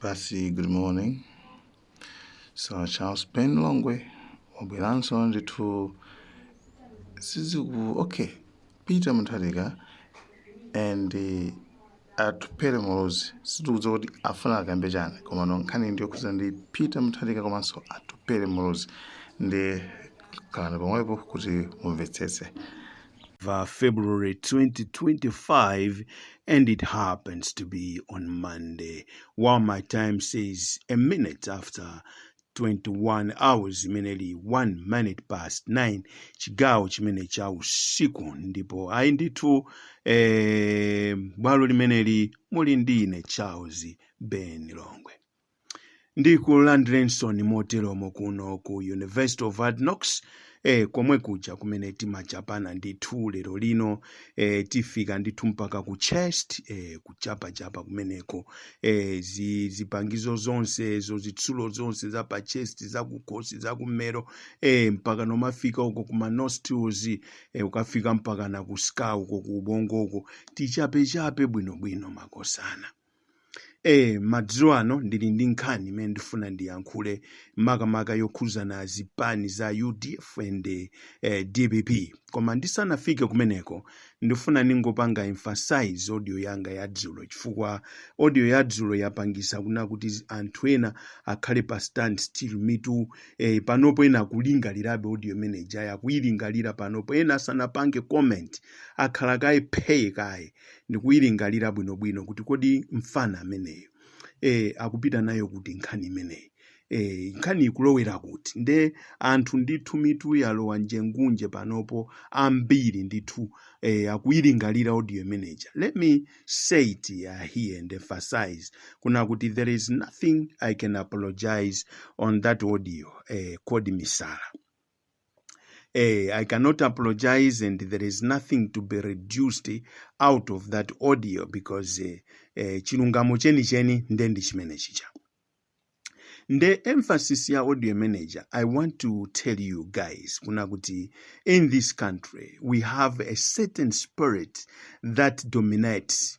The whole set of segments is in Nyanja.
Basi, good morning. Sir Charles Ben Longwe wabweranso ndithu siziku okay Peter Mutharika and eh, Atupele Muluzi sitikudziwa kuti afuna akambe chani komano nkhani ndi yokhudzana ndi Peter Mutharika komanso Atupele Muluzi nde khalani pomwepo kuti mumvetsetse va February 2025 and it happens to be on Monday while my time says a minute after 21 hours imene ili 1 minute past 9 chigawo chimene cha usiku ndipo ayi ndithu eh, bwalo limeneli muli ndi ine Charles Ben Longwe ndikulandireninso moteromo kuno ku university of hard knocks eh, komwe kuja kumene timachapana ndithu lero lino eh, tifika ndithu mpaka ku chest eh, kuchapachapa kumeneko eh, zi, zipangizo zonse zo zitsulo zonse za pa chest za kukhosi za kummero eh, mpaka kumafika uko kuma nostrils eh, kukafika mpaka na ku skull uko ku ubongo uko tichapechape bwinobwino makosana Eee madzulo ano ndili ndi nkhani imene ndifuna ndiyankhule makamaka yokhuzana zipani za udf and eh, dpp koma ndisanafike kumeneko ndifuna ndingopanga emphasize audio yanga ya dzulo chifukwa audio ya dzulo yapangisa kuna kuti zi- anthu ena akhale pa stand still mitu eh, panopo ena akulingalirabe audio imene ija akuyilingalira panopo ena asanapange comment akhala kaye phee kaye ndikuyilingalira bwinobwino kuti kodi mfana ameneyo eh, akupita nayo kuti nkhani imeneyi eh, nkhani ikulowera kuti nde anthu ndithu mitu yalowa njengunje panopo ambiri ndithu eh, akuyilingalira audio imeneja let me say it uh, here and emphasize kuna kuti there is nothing i can apologize on that audio eh, called misala Eh, I cannot apologize, and there is nothing to be reduced out of that audio because eh, eh, chilungamo cheni cheni nde ndi chimene chicha. Nde emphasis ya audio manager, I want to tell you guys, kuna kuti in this country we have a certain spirit that dominates.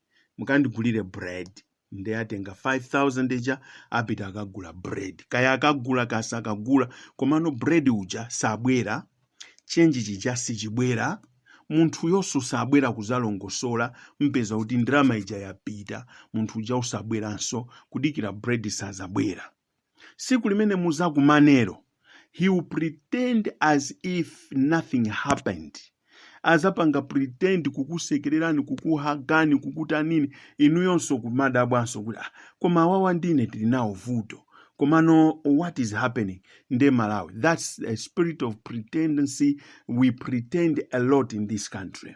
mukandigulire bread nde atenga 5000 ija apita akagula bread kaya akagula kaya sakagula komano bread uja sabwera chenji chija sichibwera munthu uyonso sabwera kuzalongosola mpeza kuti ndalama ija yapita munthu uja usabweranso kudikira bread sazabwera siku limene muzakumanero he will pretend as if nothing happened azapanga pretend kukusekererani kukuhagani kukutanini inuyonso kumadabwanso kuti ah, koma awawa ndine tili nawo vuto komano what is happening nde malawi that's a spirit of pretendency we pretend a lot in this country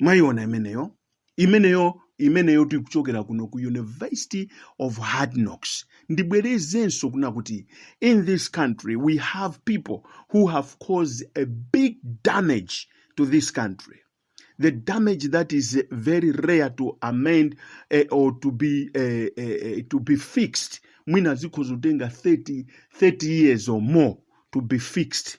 Mwaiona imeneyo, imeneyo, imeneyo tikuchokera kuno ku University of Hard Knocks. Ndibwerezenso kuna kuti in this country we have people who have caused a big damage to this country. The damage that is eh, very rare to amend eh, or to be eh, eh, eh, to be fixed. Mwina zikhozotenga 30 30 years or more to be fixed.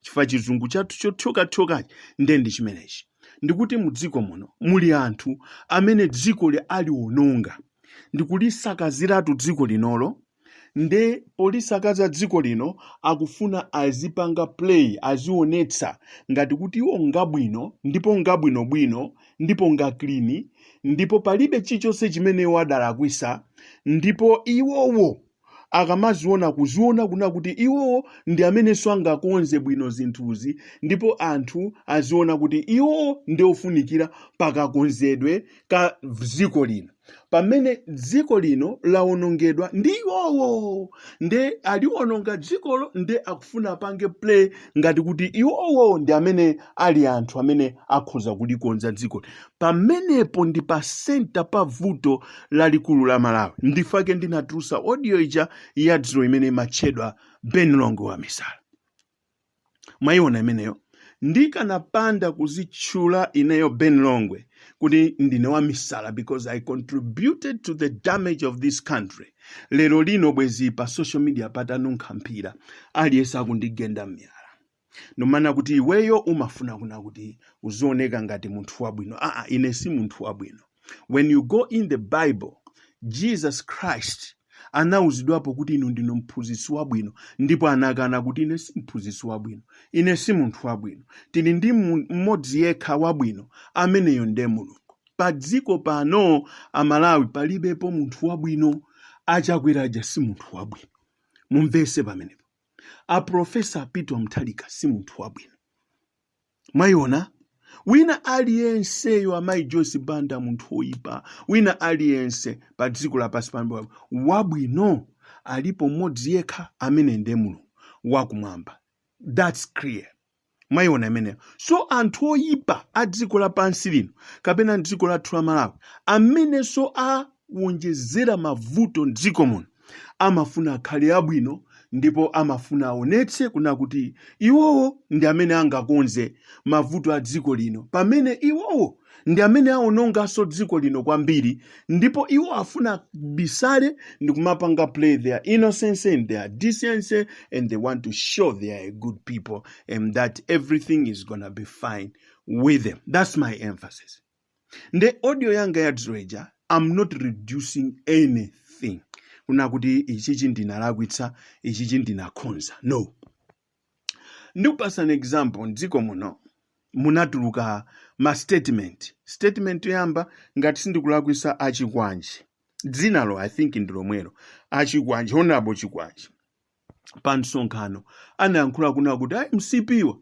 chifukwa chizungu chathu chothyokathyokachi nde ndi chimenechi ndikuti mu dziko muno muli anthu amene dzikoli aliwononga ndikulisakaziratu dziko linolo nde polisakaza dziko lino akufuna azipanga play azionetsa ngati kuti iwo ngabwino ndipo ngabwinobwino ndipo nga clean ndipo palibe chilichonse chimene iwo adalakwisa ndipo iwowo akamaziona kuziona kuna kuti iwowo ndi amenenso angakonze bwino zinthuzi ndipo anthu aziona kuti iwowo ndi ofunikira pakakonzedwe ka dziko lino pamene dziko lino lawonongedwa ndi iwowo nde aliwononga dzikolo nde akufuna apange play ngati kuti iwowo ndi amene ali anthu amene akhoza kulikonza dziko pamenepo ndi pa center pa vuto lalikulu la malawi ndifake ndinatulusa audio ija ya dzulo imene imatchedwa ben longwe wa misala mwayiona imeneyo ndikanapanda kuzitchula ineyo ben longwe kuti ndine wa misala because i contributed to the damage of this country lero lino bwezi pa social media patanunkha mphira aliyense akundigenda mmiyala Nkumanena kuti iweyo umafuna kuna kuti uzioneka ngati munthu wabwino. Aa, ine si munthu wabwino. When you go in the Bible, Jesus Christ anauzidwapo kuti inu ndinu mphunzitsi wabwino ndipo anakana kuti ine si mphunzitsi wabwino. Ine si munthu wabwino. Tili ndi mmodzi yekha wabwino ameneyo ndiye Mulungu. Pa dziko pano Amalawi palibepo munthu wabwino. Achakwera aja si munthu wabwino. Mumvese pamenepo. A Professor Peter Mutharika si munthu wabwino. Mwayiona? Wina aliyenseyo amayi Joyce Banda munthu woyipa, wina aliyense pa dziko lapansi pano wabwino alipo mmodzi yekha amene ndiye Mulungu wakumwamba. That's clear. mwayiona imeneyo so anthu oyipa a dziko lapansi lino kapena dziko lathu la malawi amenenso awonjezera mavuto mdziko muno amafuna akhale abwino ndipo amafuna aonetse kuna kuti iwowo ndi amene angakonze mavuto a dziko lino pamene iwowo ndi amene awononganso dziko lino kwambiri ndipo iwo afuna abisale ndi kumapanga play their innocence and their decency and they want to show they are a good people and that everything is gonna be fine with them that's my emphasis nde audio yanga ya dzulo ija i'm not reducing anything kuna kuti ichichi ndinalakwitsa ichichi ndinakhonza no Ndikupasani example mdziko muno munatuluka ma statement. Statement yoyamba ngati sindikulakwisa a Chikwanje. Dzinalo I think ndi lomwelo. A Chikwanje, Honorable Chikwanje pa msonkhano anayankhula kunena kuti a mcp wa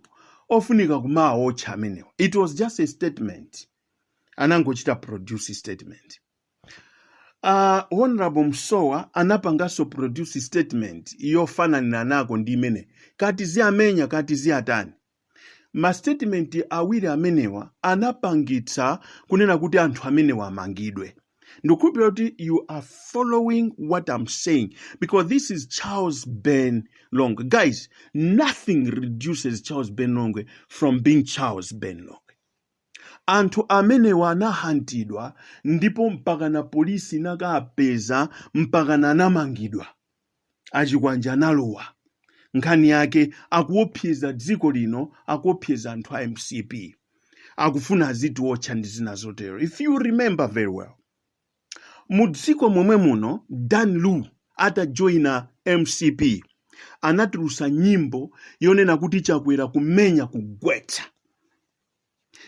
ofunika kumaawotcha amenewa. It was just a statement. Anangochita produce statement. Uh, Honorable Msowa anapanganso produce statement yofananiranako ndi imene kati ziyamenya kati ziyatani ma statement awiri amenewa anapangitsa kunena kuti anthu amenewa amangidwe ndikukhulupirira kuti you are following what i'm saying because this is charles ben longwe guys nothing reduces charles ben longwe from being charles ben longwe Anthu amenewa anahantidwa ndipo mpakana police inakapeza mpakana anamangidwa. Achikwanje analowa. Nkhani yake akuopseza dziko lino akuopseza anthu a mcp. Akufuna azitiotcha ndi zina zotero. If you remember very well. Mu dziko momwe muno Dan Lu atajoina mcp anatulusa nyimbo yonena kuti Chakwera kumenya kugwetsa.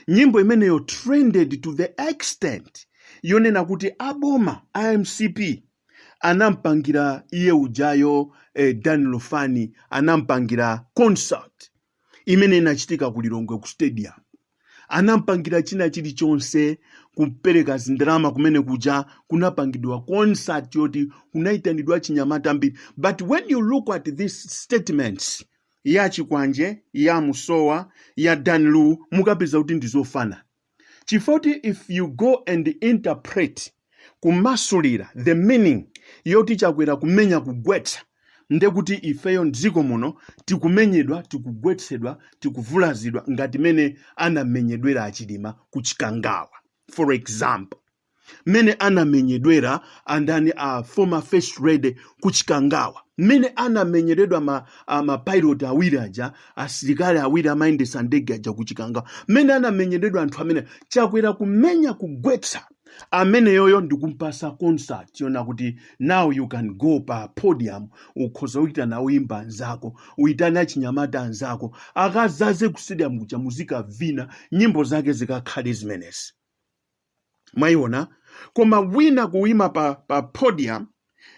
nyimbo imeneyo trended to the extent yonena kuti aboma a mcp anampangira iye ujayo eh, dan lufani anampangira concert imene inachitika ku lilongwe ku stadium anampangira china chilichonse kupereka zindalama kumene kuja kunapangidwa concert yoti kunaitanidwa achinyamata ambiri but when you look at these statements ya chikwanje ya musowa ya dan lu mukapeza kuti ndi zofanana chifukwa choti if you go and interpret kumasulira the meaning yoti chakwera kumenya kugwetsa nde kuti ifeyo mdziko muno tikumenyedwa tikugwetsedwa tikuvulazidwa ngati mene anamenyedwera achilima ku chikangawa for example mmene anamenyedwera andani a former first lady ku Chikangawa, mmene anamenyedwera ma, a, ma pilot awiri aja asilikali awiri amayendetsa ndege aja ku Chikangawa, mmene anamenyedwera anthu amene chakwera kumenya kugwetsa ameneyoyo ndikumpasa concert yonena kuti now you can go pa podium ukhoza uitane oyimba anzako uitane achinyamata anzako akazaze ku stadium kuja muzikavina nyimbo zake zikakhale zimenezi mwayiona koma wina kuima pa, pa podium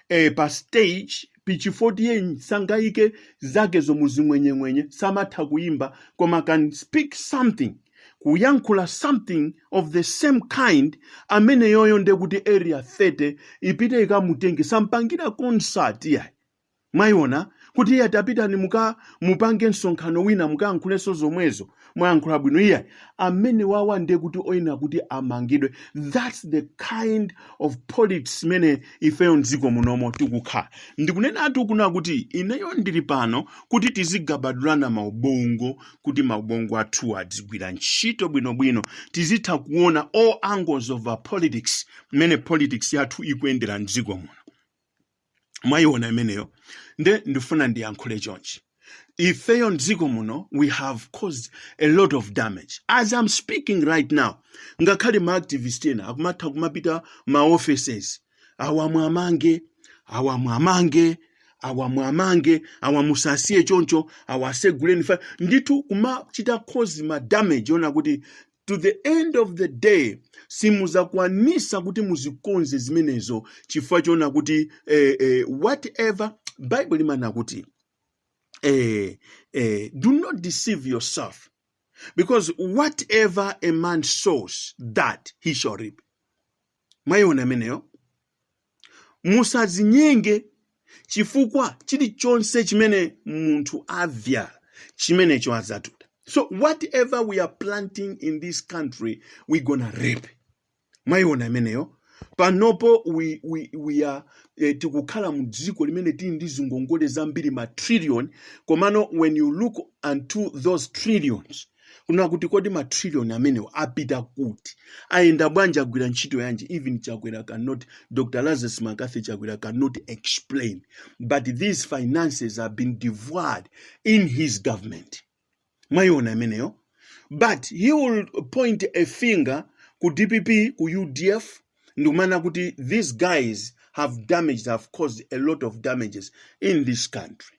eh, pa stage pachifoti ye sangaike zake zomwe zing'wenyeng'wenye samatha kuimba koma can speak something kuyankhula something of the same kind ameneyoyo ndekuti area 30 ipite ikamutenge sampangira concert yayi Mwaiona? Kuti iye tapitani mukapange msonkhano wina mukayankhulenso zomwezo. Mwayankhula bwino. Iyayi. Amenewawa ndiye kuti oyenera kuti amangidwe. That's the kind of politics imene ifeyo m'dziko munomo tikukhala. Ndikunenatu kuna kuti ineyo ndili pano kuti tizigabadulana maubongo kuti maubongo athu adzigwira ntchito bwinobwino. Tizitha kuona all angles of our politics mmene politics yathu ikuyendera m'dziko muno. mwayiona imeneyo nde ndifuna ndiyankhule chonchi ifeyo mdziko muno we have caused a lot of damage as i'm speaking right now ngakhale ma activist ena akumatha kumapita m'ma offices awa muwamange awa muwamange awa muwamange awa musawasiye choncho awa aseguleni fa ndithu kumachita cause ma damage oona kuti to the end of the day simuzakwanisa kuti muzikonze zimenezo chifukwa choona kuti eh, eh, whatever bible imana kuti eh, eh, do not deceive yourself because whatever a man sows that he shall reap mwayiona imeneyo musadzinyenge chifukwa chilichonse chimene munthu avyala chimenecho adzatuta so whatever we are planting in this country we gonna reap mwayiona imeneyo panopo we, we, we are eh, tikukhala mu dziko limene tili ndi zingongole zambiri ma trillion komano when you look unto those trillions kuna kuti kodi matrillion amenewo apita kuti ayenda bwanji agwira ntchito yanji even chakwera cannot dr lazarus mccarthy chakwera cannot explain but these finances have been devoured in his government mwayiona imeneyo but he will point a finger ku dpp ku udf ndikumana kuti these guys have damaged have caused a lot of damages in this country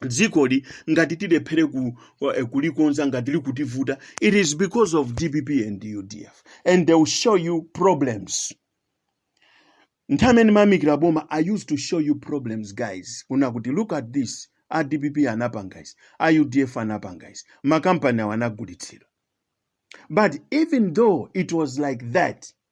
dzikoli ngati tilephere ku, eh, kulikonza ngati likutivuta it is because of dpp and udf and they will show you problems nthawi imene mayamikira boma i used to show you problems guys kuna kuti look at this a dpp anapanga izi a udf anapanga izi makampani awo anagulitsidwa but even though it was like that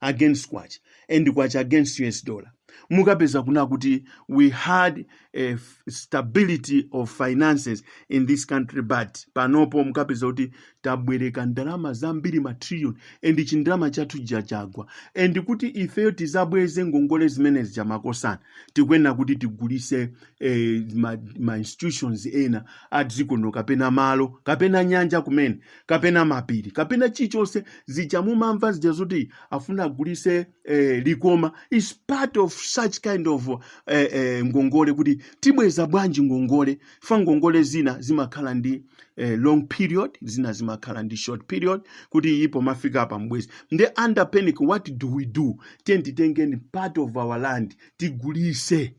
against kwacha and kwacha against us dollar mukapeza kuna kuti we had a f- stability of finances in this country but panopo mukapeza kuti tabwereka ndalama zambiri matrillion and chindalama chathu chagwa and kuti ifeyo tizabweze ngongole zimenezi chamakosana tikuyenera kuti tigulise eh, ma, ma institutions ena a dziko lino kapena malo kapena nyanja kumene kapena mapiri kapena chichonse zija mumamva zija zoti afuna agulise eh, likoma is part of such kind of eh, eh, ngongole kuti tibweza bwanji ngongole fa ngongole zina zimakhala ndi eh, long period zina zimakhala ndi short period kuti ikumafika apa mbwezi nde under panic what do we do tiyeni titengeni part of our land tigulise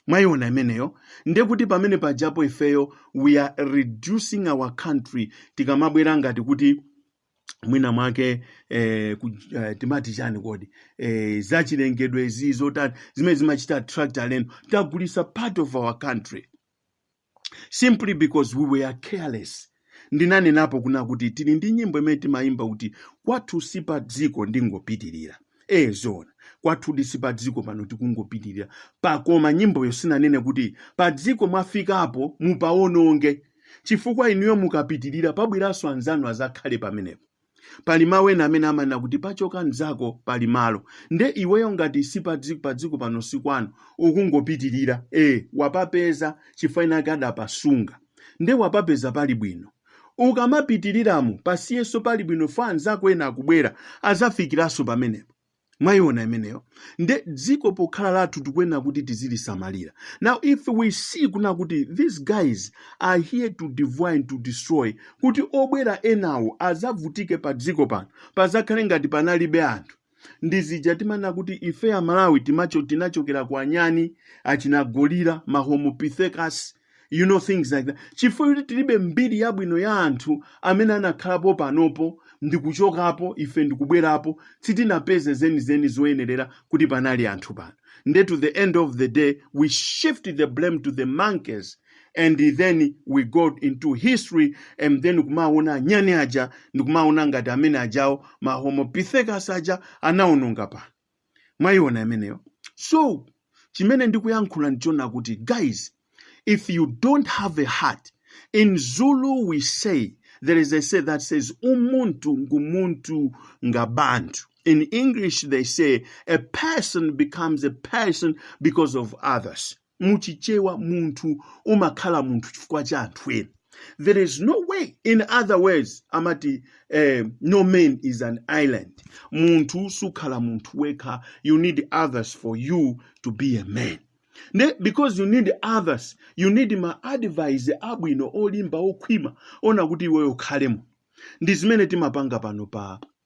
mwayiona imeneyo nde kuti pamene pajapo ifeyo we are reducing our country tikamabwera ngati kuti mwina mwake eh, ku, eh, timati chani kodi eh, zachilengedwe zi zotani zimene zimachita attract alendo tagulisa part of our country simply because we were careless ndinanenapo kunena kuti tili ndi nyimbo imene timayimba kuti kwathu si pa dziko ndingopitirira ee zoona kwathudi si pa dziko pano tikungopitirira pakoma nyimboyo sinanene kuti pa dziko mwafikapo mupawononge chifukwa inuyo mukapitirira pabweranso anzanu azakhale pamenepo pali mawu ena amene amanena kuti pachoka mnzako pali malo nde iweyo ngati si padzi- padziko pano si kwanu ukungopitirira e wapapeza chifukwa winawake adapasunga nde wapapeza pali bwino ukamapitirilamu pasiyenso pali bwino fa anzako ena akubwera azafikiranso pamenepo mwayiona imeneyo nde dziko pokhala lathu tikuyenera kuti tizilisamalira now if we see kunena kuti these guys are here to devour and to destroy kuti obwera enawo azavutike pa dziko pano pazakhale ngati panalibe anthu ndi zija timanena kuti ife amalawi timacho tinachokera kwa anyani achinagolira mahomopithecus you know things like that chifukwa choti tilibe mbiri yabwino ya anthu amene anakhalapo panopo ndikuchokapo ife ndikubwerapo sitinapeze zenizeni zoyenerera kuti panali anthu pano nde to the end of the day we shift the blame to the monkeys and then we go into history and then kumaona anyani aja ndikumaona ngati amene ajawo mahomopithecus aja anaononga pano mwayiona imeneyo so chimene ndikuyankhula ndichona kuti guys if you don't have a heart in zulu we say there is a say that says umuntu ngumuntu ngabantu in english they say a person becomes a person because of others mu chichewa munthu umakhala munthu chifukwa cha anthu ena there is no way in other words amati eh, no man is an island munthu sukhala munthu wekha you need others for you to be a man nde because you need others you need ma advice abwino olimba okhwima oona kuti iweyo ukhalemo ndi zimene timapanga pano pa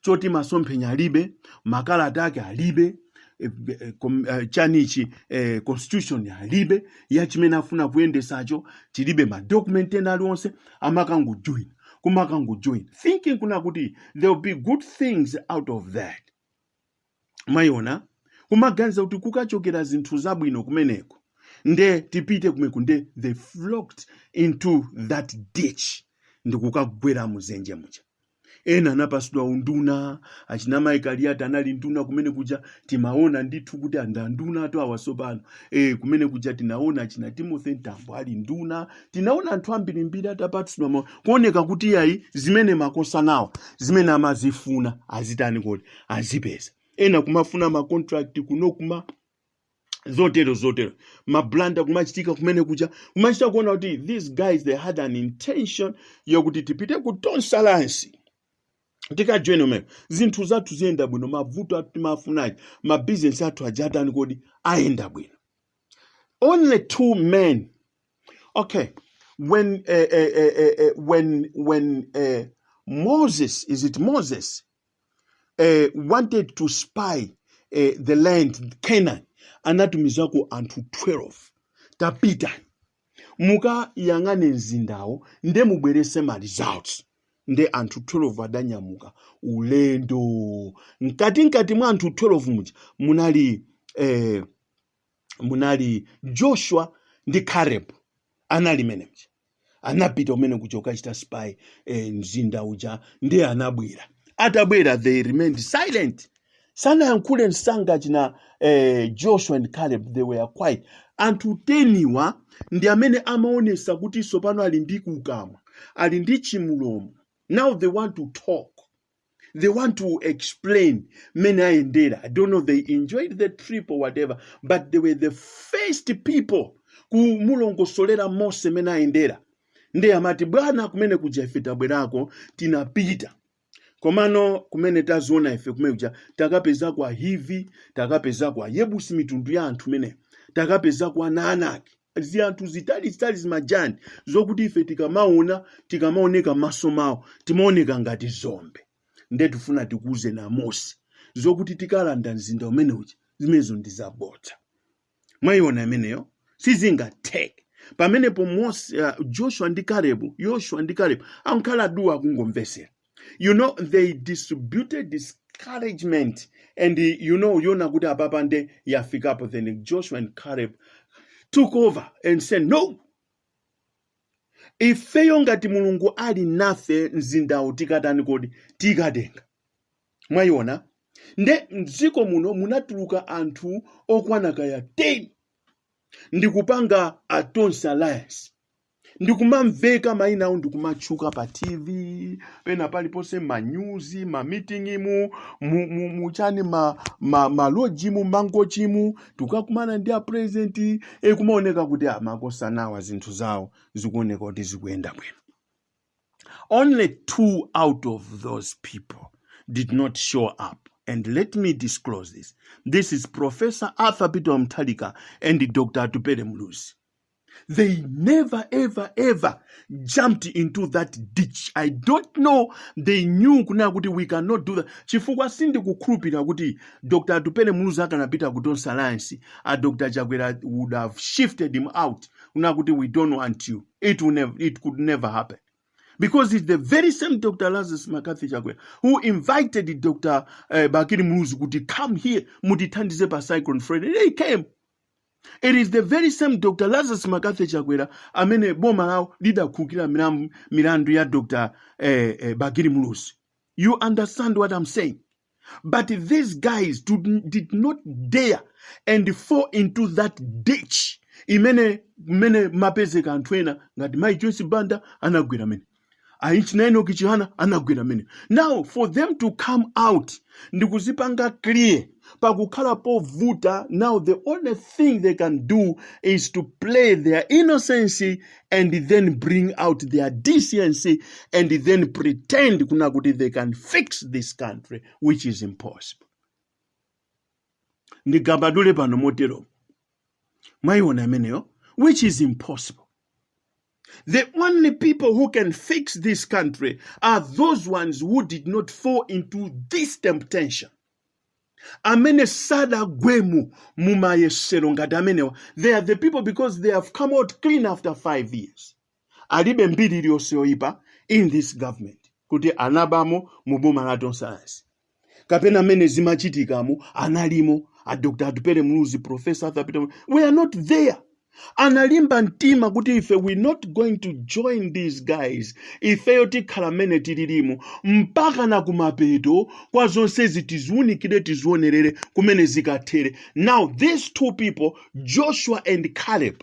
choti masomphenya alibe makalata ake alibe eh, eh, kom- eh, chanichi eh, constitution alibe ya chimene afuna kuyendesacho chilibe madocument ena aliwonse amakangojoin kumakangojoin thinking kunena kuti there will be good things out of that mwayiona kumaganiza kuti kukachokera zinthu zabwino kumeneko nde tipite kumeneku nde they flocked into that ditch ndikukagwera muzenje muja ena anapasidwa unduna achina maiko usi anali nduna kumene kuja timaona ndithu kuti andunatu awa sopano e, kumene kuja tinaona achina timothy mtambo ali nduna tinaona anthu ambirimbiri atapasidwa ma- kuoneka kuti yayi zimene amakhoza nawo zimene amazifuna azitani kodi azipeza ena kumafuna ma contract kuno kuma zotero zotero mablanda kumachitika kumene kuja kumachita kuona kuti these guys they had an intention yokuti tipite ku tonse alliance tikajoyina kumene zinthu zathu ziyenda bwino mavoti athu timafuna aja mabizinesi athu aja atani kodi ayenda bwino only two men okay when uh, uh, uh, uh, when when uh, moses is it moses eh, wanted to spy eh, the land Canaan anatumizako anthu 12 tapitani mukayang'ane mzindawo nde mubwerese ma results nde anthu 12 adanyamuka ulendo mkati mkati mwa anthu 12 muja munali eh, munali joshua ndi caleb anali mmenemuja anapita kumene kuja kukachita spy eh, mzinda uja nde anabwera atabwera they remained silent sanayankhule msanga achina eh, joshua and caleb they were quiet anthu teniwa ndi amene amaonesa kuti sopano ali ndi kukamwa ali ndi chimulomo now they want to talk they want to explain mmene ayendera i don't know they enjoyed the trip or whatever but they were the first people kumulongosolera mose mmene ayendera nde amati bwana kumene kuja ife tabwerako tinapita komano kumene taziona ife kumene kuja takapeza kuli ahivi takapeza kuli ayebusi mitundu ya anthu imeneyo takapeza kuli aanaki ziyanthu zitalizitali zimagiant zokuti ife tikamaona tikamaoneka mmaso mwawo timaoneka ngati dzombe nde tifuna tikuuzeni amose zokuti tikalanda mzinda umene uja zimenezo ndi zabodza mwayiona imeneyo sizingatheke pamenepo mose uh, joshua ndi kalebu yoshua ndi kalebu angokhala duu akungomvesera you know they distributed discouragement and eh, you know anaona kuti apapa nde yafikapo then joshua and caleb took over and said no ifeyo ngati mulungu ali nafe mzindawo tikatani kodi tikatenga mwayiona nde mdziko muno munatuluka anthu okwana kaya 10 ndikupanga a tonse alliance n'kumamveka maina awo n'kumatchuka pa tv pena paliponse manyuzi mamitingimu mu- mu- muchani ma- ma- malojimu mangochimu akukakumana ndi apurezidenti n'kumaoneka kuti amangosanawa zinthu zawo zikuoneka kuti zikuyenda bwino only two out of those people did not show up. And let me disclose this. This is Professor Arthur Peter Mutharika and Dr. Atupele Muluzi. They never ever ever jumped into that ditch. I don't know they knew kuna kuti we cannot do that. Chifukwa sindikukhulupirira kuti Dr. Atupele Muluzi akanapita ku Tonse Alliance, a Dr. Chakwera would have shifted him out. Kuna kuti we don't want you. It will never, it could never happen. Because it's the very same Dr. Lazarus McCarthy Chakwera who invited Dr. Uh, Bakiri Muluzi kuti come here, mutithandize pa Cyclone Freddy. They came. It is the very same Dr. Lazarus McCarthy Chakwera amene boma lawo lidakhululukira milam- milandu ya Dr. Eh, eh, Bakili Muluzi. You understand what I'm saying? But these guys do, did not dare and fall into that ditch imene mene mapezeka anthu ena ngati Mai Joyce Banda anagwera mmene. Achina Enock Chihana anagwera mmene now for them to come out ndi kuzipanga clear pakukhala povuta now the only thing they can do is to play their innocence and then bring out their decency and then pretend kunena kuti they can fix this country which is impossible ndingapadule pano motero mwayiona imeneyo which is impossible The only people who can fix this country are those ones who did not fall into this temptation. amene sadagwemo mumayesero ngati amenewa they are the people because they have come out clean after five years alibe mbiri iliyonse yoyipa in this government kuti anabamo mu boma la Tonse Alliance kapena mmene zimachitikamo analimo a dr atupele muluzi professor arthur peter were not there analimba mtima kuti ife we not going to join these guys ifeyo tikhala mmene tililimo mpakana kumapeto kwa zonsezi tiziunikire tizionerere kumene zikathere now these two people joshua and caleb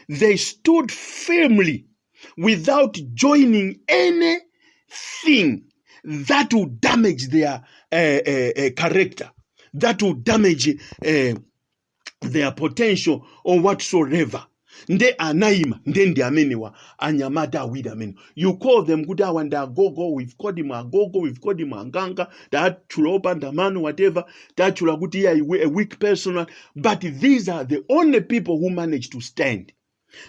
they stood firmly without joining anything that will damage their uh, uh, uh, character, that will damage uh, their potential or whatsoever. Nde anaima nde ndi amenewa anyamata awiri amenewa you call them kuti awa ndi agogo we've called him agogo we've called him anganga tatchula opanda mano whatever tatchula kuti iye a we- a weak person but these are the only people who manage to stand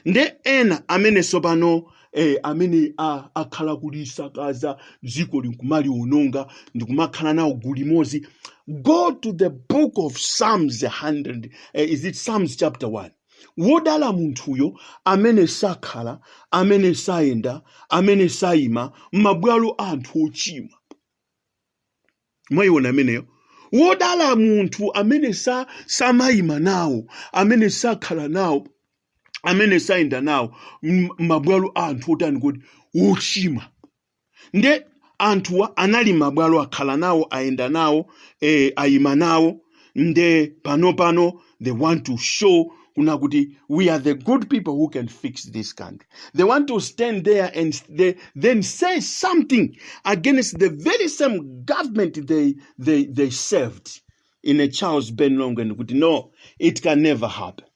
nde ena amene tsopano eh, amene a- akhala kulisakaza dziko n'kumaliononga ndikumakhala nawo gulu limodzi go to the book of psalms 100 eh, is it psalms chapter 1 Wodala munthuyo amene sakhala, amene sayenda, amene sayima, mmabwalo a anthu ochimwa. Mwayiwona imeneyo? Wodala munthu amene sa, samayima nawo, amene sakhala nawo, amene sayenda nawo, mmabwalo a anthu otani kodi? Ochimwa. nde anthuwa anali mabwalo akhala nawo ayenda nawo eh, ayima nawo nde pano pano they want to show kuna kuti we are the good people who can fix this country they want to stand there and they, then say something against the very same government they, they, they served in a charles ben longwen kuti no it can never happen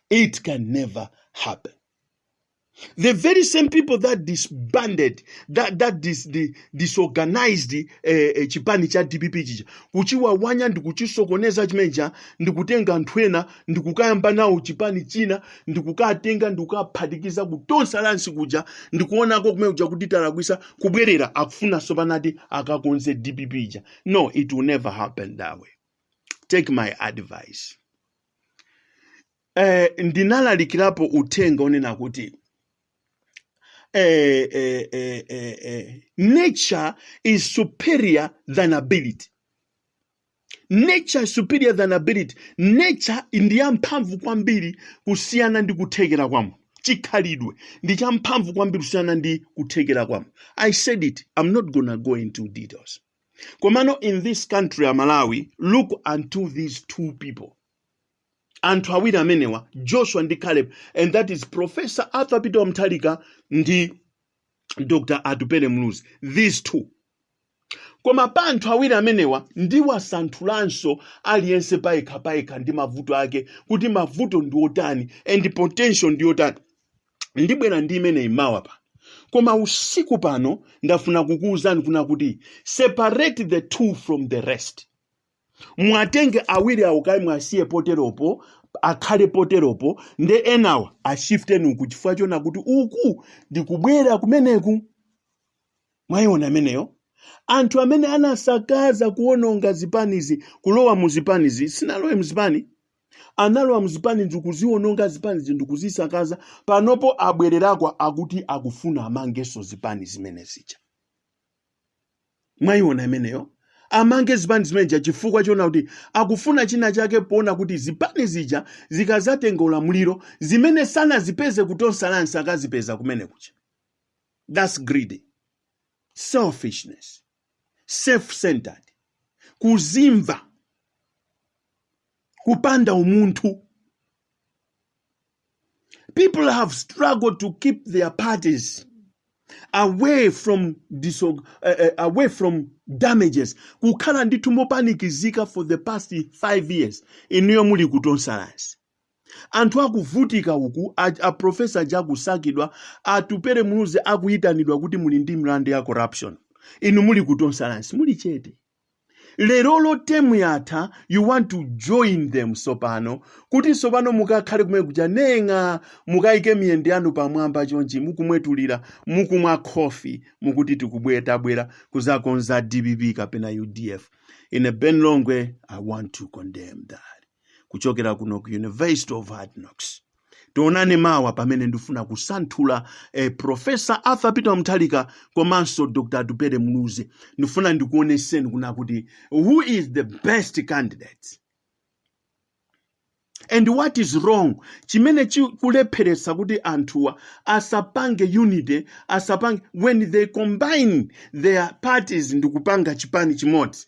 it can never happen The very same people that disbanded, that, that dis, di- disorganized eh, eh, chipani cha DPP chija kuchiwawanya ndi kuchisokoneza chimenecha ndi kutenga anthu ena ndi kukayamba nawo chipani china ndi kukatenga ndi kukaphatikiza ku Tonse Alliance kuja ndi kuonako kumene kuja kuti talakwisa kubwerera akufunanso panati akakonze DPP ija. No, it will never happen that way. Take my advice. eh, ndinalalikirapo uthenga wonena kuti eh, eh, eh, eh, eh, nature is superior than ability nature is superior than ability nature ndi yamphamvu kwambiri kusiyana ndi kuthekera kwa munthu chikhalidwe ndi champhamvu kwambiri kusiyana ndi kuthekera kwa munthu i said it i'm not gonna go into details komano in this country ya malawi look unto these two people anthu awiri amenewa joshua ndi caleb and that is professor arthur peter Mutharika ndi dr atupele Muluzi these two koma pa anthu awiri amenewa ndiwasanthulanso aliyense payekha payekha ndi mavuto ake kuti mavuto ndi otani and potential ndi wotani ndibwera ndi imeneyi mawa pano koma usiku pano ndafuna kukuwuzani kunena kuti separate the two from the rest muwatenge awiri awo kaye muwasiye poteropo akhale poteropo nde enawa ashifteni uku chifukwa chonena kuti uku ndikubwera kumeneku mwayiona imeneyo anthu amene anasakaza kuononga zipanizi kulowa mu zipanizi sinalowe mzipani analowa mzipani ndikuziononga zipanizi ndi kuzisakaza panopo abwererako akuti akufuna amangenso zipani zimene zija mwayiona imeneyo amange zipani zimene zija chifukwa choona kuti akufuna china chake poona kuti zipani zija zikazatenga ulamuliro zimene sanazipeze ku Tonse Alliance akazipeza kumene kuja that's greedy selfishness self-centered kuzimva kupanda umunthu People have struggled to keep their parties away from disog- uh, uh, away from damages kukhala ndithu mopanikizika for the past 5 years inuyo muli ku Tonse Alliance anthu akuvutika uku a, a profesa aja akusakidwa Atupele Muluzi akuyitanidwa kuti muli ndi milandu ya corruption inu muli ku Tonse Alliance muli chete leroli temu yatha you want to join them sopano kuti sopano mukakhale kumene kuja neng'a mukayike miyendo yanu pamwamba chonchi mukumwetulira mukumwa khofi mukuti tikubwera tabwera kuzakonza dpp kapena udf ine ben longwe i want to condemn that kuchokera kuno ku university of hard knocks tionane mawa pamene ndifuna kusanthula eh, profesa arthur peter mutharika komanso dr atupele muluzi ndifuna ndikuoneseni kuna kuti who is the best candidate and what is wrong chimene chikulepheretsa kuti anthuwa asapange unity asapange when they combine their parties ndikupanga chipani chimodzi